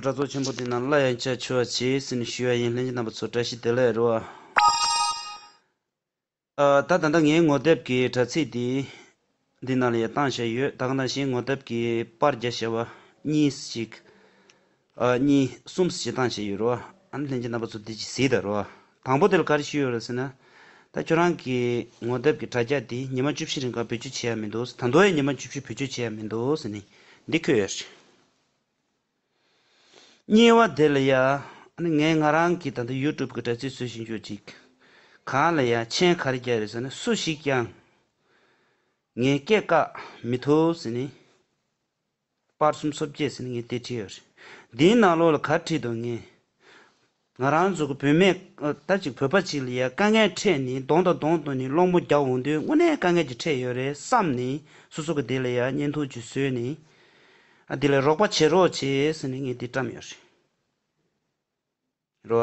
གྲྭ་ཚོགས་ཆེན་པོ་དེ་རྣམས་སླར་ཡང་བཅའ་འཆོལ་བ་བྱེད་ཟེར་ནས་ཞུས་བ་ཡིན་ལྷན་གྱི་རྣམ་པ་ཚོ་བཀྲ་ཤིས་བདེ་ལེགས་རོལ། ད་ད་ལྟ་ངའི་ངོ་དེབ་ཀྱི་དྲ་ཚིགས་འདི་འདི་ནང་ལ་ཡང་བཏང་བཞག་ཡོད་ད་ག་ནང་བཞིན་ངོ་དེབ་ཀྱི་པར་རྒྱ་བཤད་བ་གཉིས་སུ་ཞིག་གཉིས་གསུམ་སུ་ཞིག་བཏང་བཞག་ཡོད་རོ། ཨ་ནི་ལྷན་གྱི་རྣམ་པ་ཚོ་འདི་ཅིག་གཟིགས་དང་རོལ། དང་པོ་དེ་ལ་ག་རེ་ཞུས་ཡོད་རེད་ཟེར་ན། ད་ཁྱོད་རང་གི་ངོ་དེབ་ཀྱི་དྲ་རྒྱ་འདི་ཉི་མ་བཅུ་བཞི་རིང་གང་བེད་སྤྱོད་བྱེད་ཡ་མི་འདུག་ཟེར་ད་མདོ་ཡང་ཉི་མ་བཅུ་བཞི་བེད་སྤྱོད་བྱེད་ཡ་མི་འདུག་ཟེར་ནས་འདི་འཁོད་ཡོད་རེད། བསྙེལ་བ་དེ་ལ་ཡང། ངས་ང་རང་གི་ད་ལྟ་ཡུལ་གྲུབ་ཀྱི་དྲ་ཚིགས་བཟོས་བཞིན་ཡོད་ཅིག། གང་ལ་ཡང་མཆན་ག་རེ་རྒྱག་རེས་ཟེར་ན་སུ་ཞིག་ཀྱང་ངའི་སྐད་བཀག་མི་ཐུབ་ཟེར་ནས། དཔར་གསུམ་སོ་བརྒྱད་ཟེར་ནས་ངའི་སྟེ་བྲིས་ཡོད་རེད། འདིའི་ནང་ལོགས་ལ་ག་བྲིས་འདུག་ངས། ང་རང་ཚོ་གི་བུད་མེད་ད་ཅིག་བོད་པ་ཅིག་ལ་ཡ་དཀའ་ངལ་འཕྲད་ནས་གདོང་དང་གདོང་བསྟུན་ནས་སློང་མོ་རྒྱག་འོང་དུས་དངོས་གནས་དཀའ་ངལ་ཅིག་འཕྲད་ཡོད་རེད་བསམ་ནས་སོ་སོ་གི་དེ་ལ་ཡ་གཉེན་ཐུགས་རྒྱུད་བཟོས་ནས་དེ་ལ་རོགས་པ་བྱེད་རོགས་བྱེད་ཟེར་ནས་ངས་དེ་བཀྲམས་ཡོད་རེད་རོ།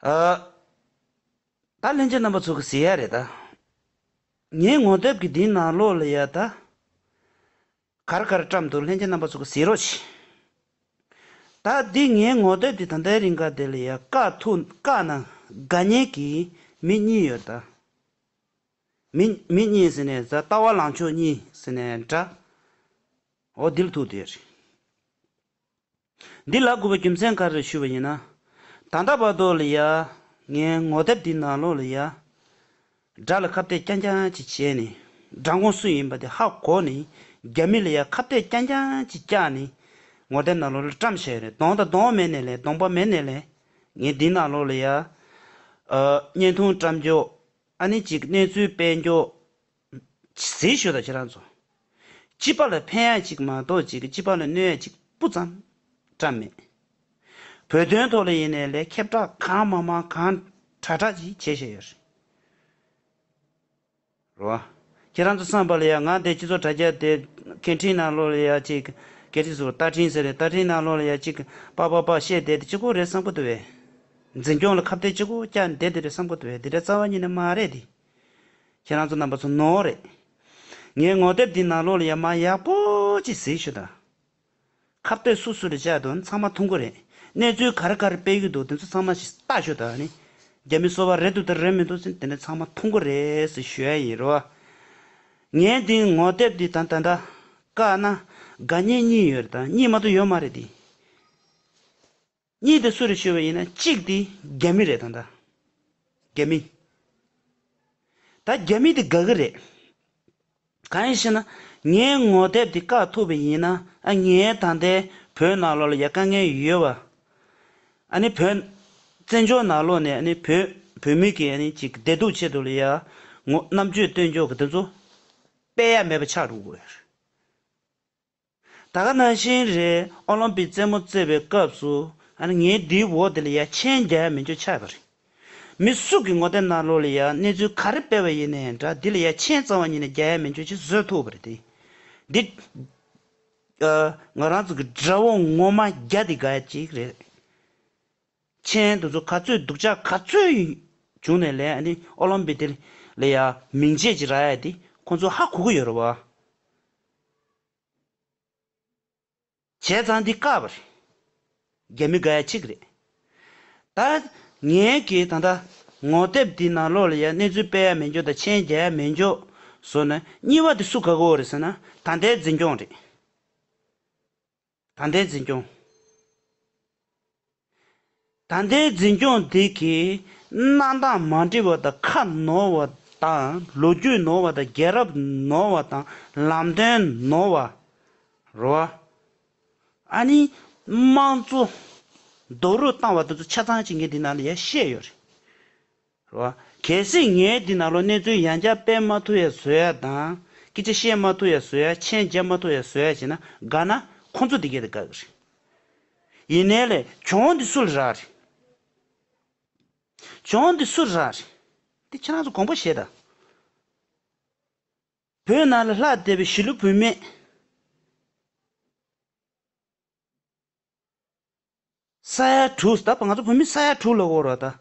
ཨ། ད་ལྷན་སྐྱེས་རྣམ་པ་ཚོ་གི་ཟེར་ཡག་རེད་ད། ངའི་ངོ་དེབ་ཀྱི་དེའི་ནང་ལོག་ལ་ཡ་ད། གར་གར་བཀྲམ་འདུག་ལྷན་སྐྱེས་རྣམ་པ་ཚོ་གི་ཟེར་རོགས་གྱིས། ད་འདི་ངའི་ངོ་དེབ་དེ་ད་ལྟའི་རིང་ག་དེ་ལ་ཡ་ཀ་ཐུག་ཀ་ན་དགའ་ཉེ་གི་མི་གཉིས་ཡོད་ད། མི་མི་གཉིས་ཟེར་ནས་ད་ལྟ་བ་ལང་མཆོག་གཉིས་ཟེར་ནས་འདྲ། འོ་འདི་ལ་ཐུག་དེ་རེད། འདི་ལ་དགོས་པའི་རྒྱུ་མཚན་ག་རེ་ཞུས་པ་ཡིན་ན། ད་ལྟ་བར་དུ་ལ་ཡ། ངའི་ངོ་དེབ་འདི་ནང་ལོགས་ལ་ཡ། དགྲ་ལ་ཁ་བཏད་རྐྱང་རྐྱང་ཅིག་བྱས་ནས། དགྲ་དགོང་སུ་ཡིན་པ་དེ་ཧ་གོ་ནས། རྒྱ་མི་ལ་ཡ་ཁ་བཏད་རྐྱང་རྐྱང་ཅིག་བཀྱགས་ནས། ངོ་དེབ་ནང་ལོགས་ལ་བཀྲམ་ཤེས་རེད་གདོང་དང་གདོང་མེད་ནས་ལས་གདོང་པ་མེད་ནས་ལས། ངས་འདི་ནང་ལོགས་ལ་ཡ། བརྙན་ཐུང་བཀྲམ་རྒྱོ། ཨ་ནི་ཅིག་གནས་ཚུལ་སྤེལ་རྒྱོ། ཟས་ཞོ་དང་ཕྱེ་ར་འཚོ། སྐྱི་པགས་ལ་ཕན་ཡག་ཅིག་མ་གཏོགས་ཅིག་སྐྱི་པགས་ལ་གནོད་ཡག་ཅིག་སྤུ་ཙམ་བཀྲ་མེད། བོད་དོན་ཐོག་ལ་ཡིན་ནའི་ལས་ཁེབས་དྲག་གང་མ་མང་གང་དྲག་དྲག་ཅིག་བྱེད་བཞིན་ཡོད་རེད། ཁྱེད་རང་ཚོ་བསམ་པ་ལ་ཡང་ང་འདས་སྤྱི་ཚོགས་དྲ་རྒྱ་དེ་སྐད་འཕྲིན་ནང་ལོག་ལ་ཡག་ཅིག་སྐད་འཕྲིན་ཟེར་བ་རྟ་འཕྲིན་ཟེར་རེད་རྟ་འཕྲིན་ནང་ལོག་ལ་ཡག་ཅིག་པགས་པགས་པགས་བཤད་བསྡད་དེ་སྤྱི་ཁོག་རེད་བསམ་ཁོ་ཐུབ་བས། འཛིན་སྐྱོང་ལ་ཁ་བརྡའི་སྤྱི་ཁོག་བསྐྱངས་བསྡད་དེ་རེད་བསམ་ཁོ་ཐུབ་བས་འདི་འདྲ་རྩ་བ་ཉིད་ནས་མ་རེད་དེ། ཁྱེད་རང་ཚོ་རྣམ་པ་ཚོ་ནོར་རེད། ངའི་ངོ་དེབ་འདི་ནང་ལོག་ལ་ཡག་མ་ཡག་པོ་གཅིག་གཟིགས་ཞུ་དང། ཁ་བསྟོད་སུ་སུ་རེ་བཅག་འདུག་ཚང་མ་མཐོང་གི་རེད། གནས་ཚུལ་ག་རེ་ག་རེ་སྤེལ་གྱི་འདུག་དེ་ཚོ་ཚང་མ་ཞིག་བལྟ་ཞོ་དང། རྒྱ་མི་གསོ་བ་རེད་འདུག་དང་རེད་མི་འདུག་ཟེར་དེ་འདྲ་ཚང་མ་མཐོང་གི་རེད་ཟེར་ཞུ་ཡ་ཡིན་རོ། ངའི་འདི་ངོ་དེབ་འདི་དང་ད་འདྲ་དཀའ་ན་དགའ་ཉེ་གཉིས་ཡོད་རེད་དང་གཉིས་མ་གཏོགས་ཡོད་མ་རེད་དེ། གཉིས་དེ་སུ་རེད་ཤོད་བས་ཡིན་ན་གཅིག་དེ་རྒྱ་མི་རེད་ད། རྒྱ་མི། ད་རྒྱ་མི་དེ་དགའ་གི་རེད། གང་ཡིན་ཞེ་ན་ངའི་ངོ་དེབ་དེ་བཀག་ཐུབ་པས་ཡིན་ན་ཨ་ངའི་ད་ལྟའི་བོད་ནང་ལོག་ལ་ཡ་དཀའ་ངལ་ཡོད་བ། ཨ་ནི་བོད། བཙན་བྱོལ་ནང་ལོག་ནས་ཨ་ནི་བོད་བོད་མི་གི་ཨ་ནི་ཅིག་བདེ་སྡུག་ཆེད་དུ་ལ་ཡ། ངོ་རྣམ་དཔྱོད་ལྟོས་འཇོག་གི་དེ་ཚོ། དཔེ་ཡ་མེད་པ་ཆགས་འགྲོ་གི་རེད། ད་ག་ནང་བཞིན་རེད་ཨོ་ལོམ་པིག་རྩེད་མོ་རྩེ་བའི་སྐབས་སུ་ངའི་དེའི་འོག་དེ་ལ་ཡ་མཆན་རྒྱག་མི་འགྱོ་ཆགས་པ་རེད། མི་སུ་གི་ངོ་ཐད་ནང་ལོགས་ལ་ཡ་གནས་ཚུལ་ག་རེ་སྤེལ་བ་ཡིན་ནའི་འདྲ་དེ་ལ་ཡ་མཆན་གཙང་བ་ཉིད་ནས་རྒྱག་ཡ་མི་འགྱོ་ཅི་བཟོད་ཐུག་པ་རེད་དེ། འདི། ང་རང་ཚོ་གི་དགྲ་བོ་ངོ་མ་རྒྱ་དེ་ག་ཅིག་རེད། མཆན། དུ་ཚོ་ག་ཚོད་སྡུག་ཅག་ག་ཚོད་ཡོད། བྱུང་ནས་ལས་ཨ་ནི་ཨོ་ལོམ་པི་ཏེར་ལས་ཡ་མིང་ཆད་ཅིག་ར་ཡ་དེ་ཁོང་ཚོ་ཧ་གོ་གི་ཡོད་ར་བ། བྱས་ཙང་འདི་ཀ་བ་རེད། རྒྱ་མི་དགའ་ཡ་ཆིག་རེད། ད་ངའི་གིས་ད་ལྟ་ངོ་དེབ་དེ་ནང་ལོག་ལ་ཡ་གནས་ཚུལ་སྤེལ་ཡ་མེད་འགྱོ་ད་མཆན་རྒྱ་ཡ་མེད་འགྱོ་བཟོ་ན་གཉིས་བ་དེ་སུ་ག་གོ་བ་རེད་ཟེར་ན་ད་ལྟའི་འཛིན་སྐྱོང་རེད། ད་ལྟའི་འཛིན་སྐྱོང། ད་ལྟའི་འཛིན་སྐྱོང་དེ་གའི་གནང་སྟངས་མ་འདྲི་བ་དང་ཁ་ནོར་བ་དང་ལོ་རྒྱུས་ནོར་བ་དང་རྒྱལ་རབས་ནོར་བ་དང་ལམ་སྟོན་ནོར་བ་རོ། ཨ་ནི་དམངས་གཙོ་རྡོག་རོལ་བཏང་བ་དེ་ཚོ་ཆ་ཚང་གཅིག་ངས་འདི་ནང་ལ་ཡ་བཤད་ཡོད་རེད། རེད་བ། གལ་སྲིད་ངས་འདི་ན་ལོ་གནས་ཚུལ་ཡང་བསྐྱར་སྤེལ་མ་ཐུབ་ཡ་བཟོ་ཡ་དང། སྐད་ཆ་བཤད་མ་ཐུབ་ཡ་བཟོ་ཡ་མཆན་བརྒྱབ་མ་ཐུབ་ཡ་བཟོ་ཡ་བྱས་ན་དགའ་ན་ཁོ་ཚོ་འདི་སྐད་དེ་དགའ་གི་རེད། ཡིན་ནའི་ལེ་གྱོང་འདི་སུ་ལ་རག་རེད། གྱོང་འདི་སུ་ལ་རག་རེད། འདི་ཁྱེད་རང་ཚོ་དགོངས་པ་བཞེས་དང། བོད་ནང་ལ་ལྷག་བསྡད་པའི་གཞིས་ལུས་བུད་མེད། ས་ཡ་དྲུག་ད་བར་ང་ཚོ་བོད་མི་ས་ཡ་དྲུག་ལ་དབོར་བ་དང།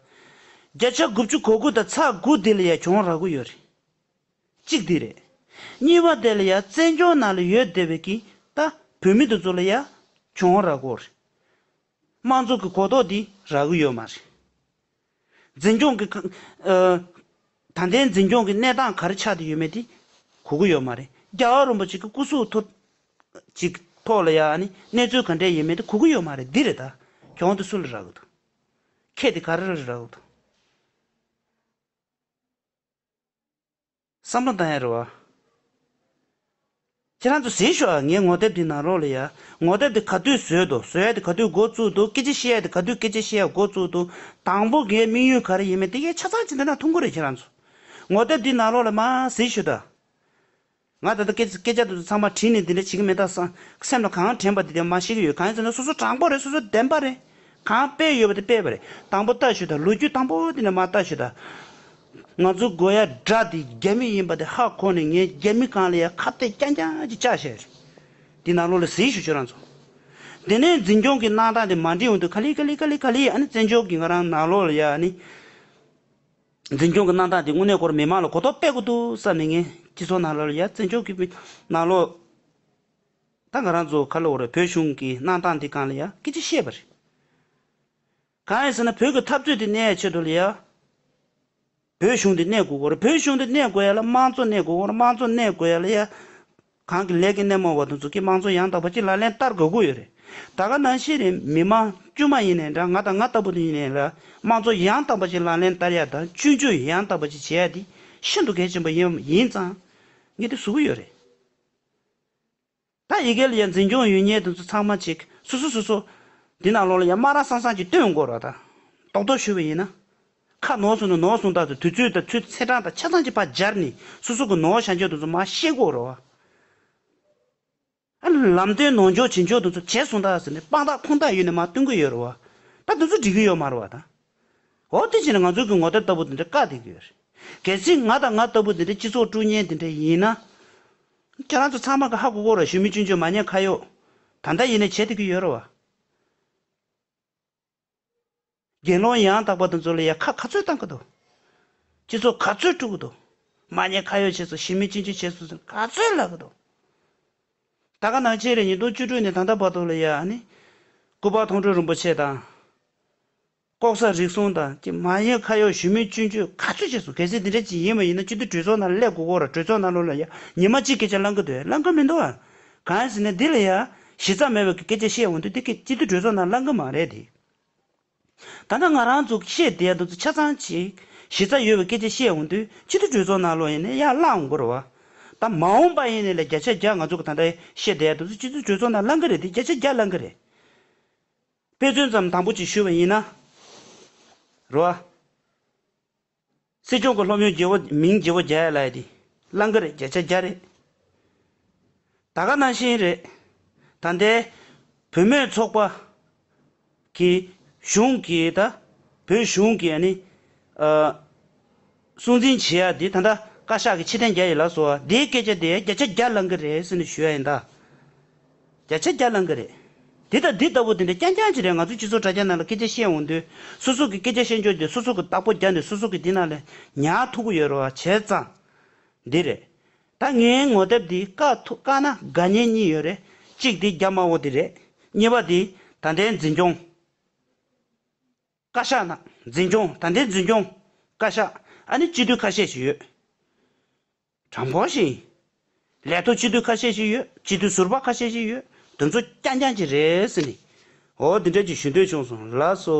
བརྒྱ་ཆ་དགུ་བཅུ་གོ་དགུ་དང་ཚ་དགུ་དེ་ལ་ཡ་གྱོང་རག་གོ་ཡོད་རེད། གཅིག་དེ་རེད། གཉིས་པ་དེ་ལ་ཡ་བཙན་སྐྱོང་ནང་ལ་ཡོད་བསྡད་པའི་གིས་ད་བོད་མི་དེ་ཚོ་ལ་ཡ་གྱོང་རག་གོ་རེད། དམངས་གཙོ་གི་གོ་རྟོགས་དེ་རག་གི་ཡོད་མ་རེད། འཛིན་སྐྱོང་གི། ད་ལྟའི་འཛིན་སྐྱོང་གི་གནས་སྟངས་ག་རེ་ཆགས་ཏེ་ཡོད་མེད་དེ་གོ་གི་ཡོད་མ་རེད། རྒྱ་གར་རིན་པོ་ཆེ་གི་སྐུ་གཟུགས་ཐོག་ཅིག་ཐོག་ལ་ཡང་ནི་གནས་ཚུལ་ག་འདྲས་ཡོད་མེད་དེ་གོ་གི་ཡོད་མ་རེད་འདི་རེད་ད། གྱོང་དེ་སུ་ལ་རག་གི་འདུག་ཁྱེད་དེ་ག་རེ་རག་གི་འདུག། བསམ་བློ་བཏང་ཡ་རེད་བ། ཁྱེད་རང་ཚོ་ཟིན་ཤོག་ཨ་ངའི་ངོ་དེབ་དེ་ནང་རོགས་ལས་ཡ། ངོ་དེབ་དེ་ག་དུས་བཟོས་འདུག་བཟོ་ཡ་དེ་ག་དུས་འགོ་བཙུགས་འདུག་སྐད་ཆ་ཤེས་ཡ་དེ་ག་དུས་སྐད་ཆ་ཤེས་ཡ་འགོ་བཙུགས་འདུག་དང་པོ་ངའི་དམིགས་ཡུལ་ག་རེ་ཡིན་མིན་དེ་ངས་ཆ་ཚང་བྱེད་འདོད་ན་ཐུགས་མཁོ་རེད་ཁྱེད་རང་ཚོ། ངོ་དེབ་དེ་ནང་རོགས་ལས་མ་ཟིན་ཤོད་ད། ང་ད་ལྟ་སྐད་སྐད་ཆ་དེ་ཚོ་ཚང་མ་བྲིས་ནས་དེ་འདྲ་བྱེད་ཀྱི་མེད་ད་ས་སེམས་ལ་གང་དྲན་པ་དེ་དེ་མ་བཤད་ཀྱི་ཡོད་གང་ཡིན་ཟེར་ན་སོ་སོ་དྲང་པོ་རེད་སོ་སོ་བདེན་པ་རེད་གང་དཔེ་ཡོད་པ་དེ་སྤེལ་བ་རེད་དང་པོ་ལྟ་ཞོད་ད་ལོ་རྒྱུས་དང་པོ་དེ་འདྲ་མ་ལྟ་ཞོད་ད། ང་ཚོའི་དགོས་ཡ་དགྲ་དེ་རྒྱ་མི་ཡིན་པ་དེ་ཧ་གོ་ནས་ངས་རྒྱ་མི་གང་ལ་ཡང་ཁ་བཏད་རྐྱང་རྐྱང་གཅིག་བཅག་བྱས་རེད། དེ་ནང་ལོག་ལ་གཟིགས་ཞུ་ཁྱོད་རང་ཚོ། དེ་ནས་འཛིན་སྐྱོང་གི་གནང་སྟངས་དེ་མ་འགྲིག་འོན་ཏུ་ཁ་ལི་ཁ་ལི་ཁ་ལི་ཁ་ལི་ཨ་ནི་བཙན་བྱོལ་གྱི་ང་རང་ནང་ལོག་ལ་ཡ་ཨ་ནི། འཛིན་སྐྱོང་གི་གནང་སྟངས་དེ་དངོས་གནས་སྐོར་མི་མང་ལ་གོ་རྟོགས་སྤེལ་དགོས་འདུག་བསམ་ནས་ངས་སྤྱི་ཚོགས་ནང་ལོག་ལ་ཡ་བཙན་བྱོལ་གྱི་ནང་ལོག་ད་ང་རང་ཚོ་ཁ་ལོག་ར་བོད་གཞུང་གི་གནང་སྟངས་དེ་གང་ལ་ཡ་སྐད་ཅིག་བཤད་པ་རེད། གང་ཡིན་ཟེར་ན་བོད་ཀྱི་འཐབ་རྩོད་དེ་གནས་ཡའི་ཆེད་དུ་ལ་ཡ། བོད་གཞུང་དེ་གནས་དགོས་གོར་བོད་གཞུང་དེ་གནས་དགོས་ཡ་ལ་དམངས་གཙོ་གནས་དགོས་གོར་དམངས་གཙོ་གནས་དགོས་ཡ་ལ་ཡ། གང་གི་ལས་ཀྱི་སྣེ་མོ་བ་དང་ཟུར་གྱི་དམངས་གཙོ་ཡང་དག་པ་གཅིག་ལ་ལན་བསྟར་དགོས་གོ་ཡོད་རེད། ད་ག་ནང་ཤེས་རེད་མི་དམངས་དཀྱུས་མ་ཡིན་ནའི་འདྲ་ང་དང་ང་ལྟ་བུ་དེ་ཡིན་ནའི་ལ་དམངས་གཙོ་ཡང་དག་པ་གཅིག་ལ་ལན་བསྟར་ཡ་དང་བཅུན་བཅུན་ཡང་དག་པ་གཅིག་བྱེད་ཡ་དེ་ཤིན་ཏུ་གལ་ཆེན་པོ་ཡིན་ཡིན་ཙང་ངས་དེ་བཟོ་གི་ཡོད་རེད། ད་ཡི་གེ་ལ་ཡང་འཛིན་སྐྱོང་ཡོད་ཉེས་དེ་ཚོ་ཚང་མ་ཅིག་སུ་སུ་སུ་སུ། འདི་ནང་ལོགས་ལ་ཡང་སྨྲ་རང་སངས་སངས་ཀྱིས་བསྟོད་དགོས་རོགས་དང། རྟོག་རྟོག་ཞུ་བའི་ཡིན་ན། ཁ་ནོར་སོང་ན་ནོར་སོང་དག་དུས་ཚོད་དང་ཚུལ་ཚད་གྲངས་དང་ཆ་ཚང་གྱི་བར་སྦྱར་ནས་སུ་སུ་གི་ནོར་བྱ་འཇོག་དེ་ཚོ་མ་ཤེས་དགོས་རོགས། ཨ། ལམ་སྟོན་ནོར་འཇོག་བྱེད་འཇོག་དེ་ཚོ་བྱས་སོང་དག་ཟེར་ནས་དཔང་རྟགས་ཁུངས་རྟགས་ཡོད་ནས་མ་སྟོན་གི་ཡོད་རོགས། ད་དེ་ཚོ་འགྲིག་གི་ཡོད་མ་རོགས་དང། འོ་དེ་བྱས་ན་ང་ཚོ་གི་ངོ་དེབ་ལྟ་བུ་དེ་འདྲ་བཀག་བསྡད་ཀྱི་ཡོད་རེད། གལ་སྲིད་ང་དང་ང་ལྟ་བུ་དེ་འདྲ་སྤྱི་ཚོགས་དཀྲུག་ཉེན་དེ་འདྲ་ཡིན་ན། ཁྱེད་རང་ཚོ་ཚང་མ་ག་ཧ་གོ་གོ་རོ་ཞུ་མི་ཅུན་ཅོ་མ་ཉན་ཁ་ཡོག་ད་འདྲ་ཡིན་ནས་བྱེད་ཐུབ་ཀྱི་ཡོད་རོ་བ། དགེ་སློང་ཡང་དག་པ་དང་ཚོ་ལ་ཡ་ཁ་ག་ཚོད་བཏང་གི་འདུག་སྤྱི་ཚོགས་ག་ཚོད་དཀྲུག་གི་འདུག་མ་ཉན་ཁ་ཡོག་བྱེད་སོ་ཞི་མི་ཅུན་ཅོ་བྱེད་སོ་ཟེར་ནས་ག་ཚོད་ལབ་གི་འདུག་ད་ག་ནང་ཆེན་རེད་ཉིས་སྟོང་བཅུ་དྲུག་ནས་ད་ལྟ་བར་དུ་ལ་ཡ་ནི་སྐུ་པར་མཐོང་གྲོལ་རིན་པོ་ཆེ་དང། ལྐོག་ཟ་རིག་གསུམ་དང་ཀྱི་མ་གཡོས་ཁ་གཡོག་ཞུ་མིན་བཅུན་གཅོད་ག་ཚོད་བྱས་སོང་གལ་སྲིད་འདི་འདྲའི་ཅིག་ཡིན་པ་ཡིན་ན་སྤྱི་འཐུས་གྲོས་ཚོགས་ནང་སླད་དགུ་གོ་ར་གྲོས་ཚོགས་ནང་ལོ་ལ་ཡ་ཉི་མ་གཅིག་སྐད་ཆ་བླང་གི་འདུག་ཡ་བླང་གི་མི་འདུག་ཨང། གང་ཡིན་ཟེར་ན་འདི་ལ་ཡ་གཞི་རྩ་མེད་པའི་སྐད་ཆ་བཤད་འོང་དུས་དེ་སྐད་སྤྱི་འཐུས་གྲོས་ཚོགས་ནང་བླང་གི་མ་རེད་དེ། ད་ལྟ་ང་རང་ཚོ་བཤད་བསྡད་ཡ་འདུག་ཚོ་ཆ་ཚང་ཅིག་གཞི་རྩ་ཡོད་པའི་སྐད་ཆ་བཤད་འོང་དུས་སྤྱི་འཐུས་གྲོས་ཚོགས་ནང་ལོ་ཡིན་ནས་ཡ་བླང་འོང་གི་རེད་བ། ད་མ་འོང་པ་ཡིན་ནས་ལ་བརྒྱ་ཆ་བརྒྱ་ང་ཚོ་གི་ད་ལྟ་ཡ་བཤད་བསྡད་ཡ་འདུག་ཚོ་སྤྱི་འཐུས་གྲོས་ཚོགས་ནང་བླང་གི་རེད་དེ་བརྒྱ་ཆ་བརྒྱ་བླང་གི་རེད། དཔེ་མཚོན་ཙམ་དང་པོ་གཅིག་ཞུ་བ་ཡིན་ན། རོ། སྲིད་སྐྱོང་གི་སློབ་ཡོན་བརྒྱད་བོ་མིང་བརྒྱད་བོ་བརྒྱ་ཡ་ལ་ཡ་དེ། གླང་གི་རེད་བརྒྱ་ཆ་བརྒྱ་རེད། ད་ག་ན་ཤེས་རེད། ད་ལྟའི། བུད་མེད་ཚོགས་པ། གི། གཞུང་གི་ད། བོད་གཞུང་གི་ཨ་ནི། ཨ། སྲུང་འཛིན་བྱེད་ཡ་དེ་ད་ལྟ་བཀའ་ཤག་གི་ཕྱི་གཏན་རྒྱ་ཡིན་ལགས་སོ་དེའི་སྐད་ཆ་དེ་བརྒྱ་ཆ་བརྒྱ་བླང་གི་རེད་ཟེར་ནས་ཞུ་ཡ་ཡིན་ད། བརྒྱ་ཆ་བརྒྱ་བླང་གི་རེད། དེ་དང་འདི་ལྟ་བུ་དེ་འདྲ་རྐྱང་རྐྱང་ཅིག་རེད་ང་ཚོའི་སྤྱི་ཚོགས་དྲ་རྒྱ་ནང་ལ་སྐད་ཆ་བཤད་འོང་དུས་སོ་སོ་གི་སྐད་ཆ་བཤད་འཇོག་དེ་སོ་སོ་གི་བདག་པོ་རྒྱག་ནས་སོ་སོ་གི་དེ་ནང་ལ་ཉར་ཐུབ་གི་ཡོད་རེད་བ་བྱས་ཙང་འདི་རེད། ད་ངའི་ངོ་དེབ་འདི་བཀག་ཐུབ་བཀག་ན་དགའ་ཉེ་གཉིས་ཡོད་རེད་གཅིག་དེ་རྒྱ་དམར་བོ་དེ་རེད་གཉིས་པ་དེ་ད་ལྟའི་འཛིན་སྐྱོང། བཀའ་ཤག་ནང་འཛིན་སྐྱོང་ད་ལྟའི་འཛིན་སྐྱོང་བཀའ་ཤག་ཨ་ནི་སྤྱི་འཐུས་ཁ་ཤས་ཤིག་ཡོད། དྲང་པོ་ཞིག་ཡིན། ལས་ཐོག་སྤྱི་འཐུས་ཁ་ཤས་ཤིག་ཡོད་སྤྱི་འཐུས་ཟུར་པ་ཁ་ཤས་ཤིག་ཡོད་དེ་ཚོ་རྐྱང་རྐྱང་གྱི་རེད་ཟེར་ནས་འོ་དེ་འདྲ་གྱི་ཞུ་འདོད་བྱུང་སོང་ལགས་སོ།